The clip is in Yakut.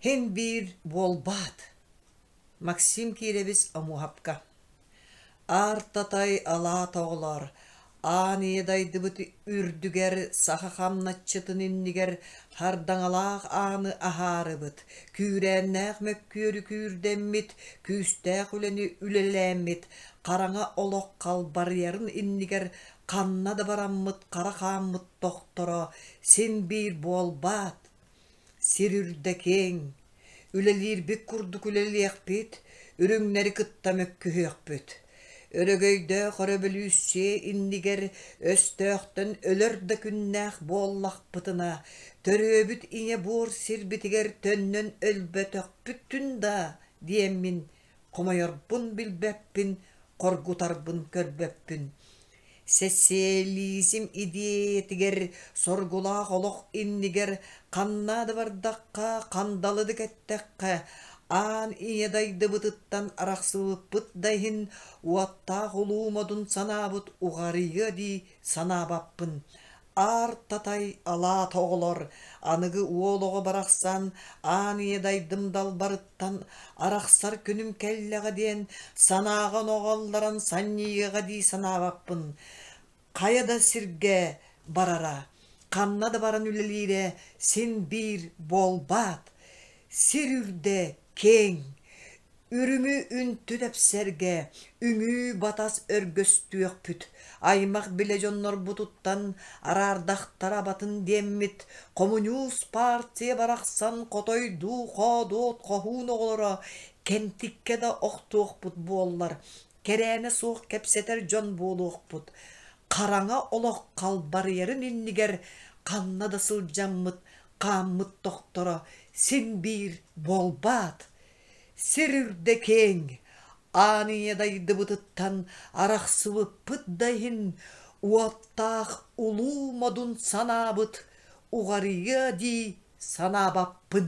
Һин биир буолбаат Максим Кирович Омуоһапка Аар Татай алаата оҕолоор аан ийэ дайдыбыт үрдүгэр саха хамначчытын иннигэр хардаҥалаах ааны аһаарыбыт, күүрээннээх мөккүөрү күүрдэммит, күүстээх үлэни үлэлээммит, хараҥа олох халбарыйарын иннигэр ханна да бараммыт хара хааммыт тохторо син-биир буолбаат, сир үрдэ киэҥ, үлэлиирбит курдук үлэлиэхпит, үрүҥнэри кытта мөккүһүөхпүт. Өрөгөйдөөх өрөбөлүүссүйэ иннигэр өстөөхтөн өлөр да күннээх буоллахпытына, төрүөбүт ийэ буор сирбитигэр төннөн өлбөтөхпүттүн да диэммин Хомойорбун билбэппин, хоргутарбын көрбөппүн. Социализм идиэйэтигэр, соргулаах олох иннигэр ханна да бардахха, хандалы да кэттэххэ, аан ийэ дайдыбытыттан арахсыбыппыт да иһин, уоттаах улуу модун санаабыт уҕарыйыа дии санаабаппын. Аар-татай алаата оҕолор аныгы уол оҕо барахсан аан ийэдайдым далбарыттан арахсар күнүм кэллэҕэ диэн санааҕын оҕоллорон санньыйыаҕа дии санаабаппын. Хайа да сиргэ барара, ханна да баран үлэлиирэ син биир буолбаат. Сир үрдэ Киэҥ, үрүҥү үнтү тэпсэргэ үҥүү-батас өргөстүөхпүт, аймах-билэ дьоннорбутуттан араардахтара абатын диэммит, хомуньуус партия барахсан хотойдуу-хоодуот хоһуун оҕолоро кэнтиккэ да охтуохпут буоллар, кэрээнэ суох кэпсэтэр дьон буолуохпут. Хараҥа олох халбарыйарын иннигэр ханна да сылдьаммыт хааммыт тохторо син биир буолбаат, сир үрдэ киэҥ, аан ийэ дайдыбытыттан арахсыбыппыт да иһин, уоттаах улуу модун санаабыт уҕарыйыа дии санаабаппын